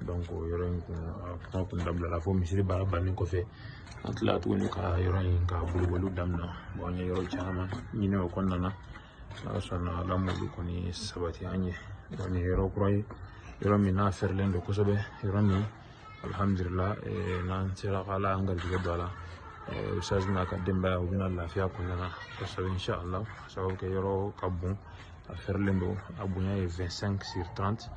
donc yɔrɔ in kun a kuma kun dabilala fo misiri baara bannen kɔfɛ an tilala tuguni ka yɔrɔ in ka boliboliw daminɛ an ye yɔrɔ caman ɲini o kɔnɔna na ala sɔnna ala m'olu kɔni sabati an ye nin ye yɔrɔ kura ye yɔrɔ min n'a fɛrɛlen don kosɛbɛ yɔrɔ min alihamudulila n'an sera ka ala an garijɛgɛ don a la ustaz n'a ka denbaya u bɛna lafiya kɔnɔna na kosɛbɛ inshallah sababu kɛ yɔrɔ ka bon a fɛrɛlen don a bonya ye 25 sur 30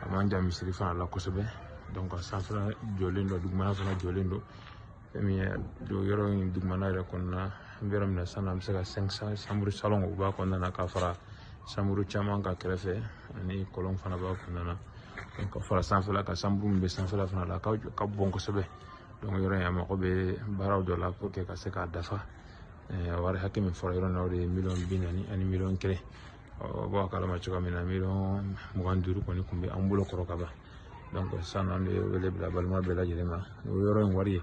a man jan misiri fana la kosɛbɛ donc a sanfɛla jɔlen don dugumana fana jɔlen don fɛn min ye don yɔrɔ in dugumana yɛrɛ kɔnɔna an bɛ yɔrɔ min na sisan an bɛ se ka 500 sanburu salon u b'a kɔnɔna na ka fara sanburu caman kan kɛrɛfɛ ani kɔlɔn fana b'a kɔnɔna na donc ka fara sanfɛla kan sanburu min bɛ sanfɛla fana la ka bon kosɛbɛ donc yɔrɔ in a mago bɛ baaraw dɔ la pour que ka se k'a dafa wari hakɛ min fɔra yɔrɔ na o de ye miliyɔn bi naani ani miliyɔn kelen bɔ a kalama cogoya min na miliyɔn mugan duuru kɔni kun bɛ an bolo kɔrɔ kaban donc sisan an bɛ wele bila balima bɛɛ lajɛlen ma o yɔrɔ in wari ye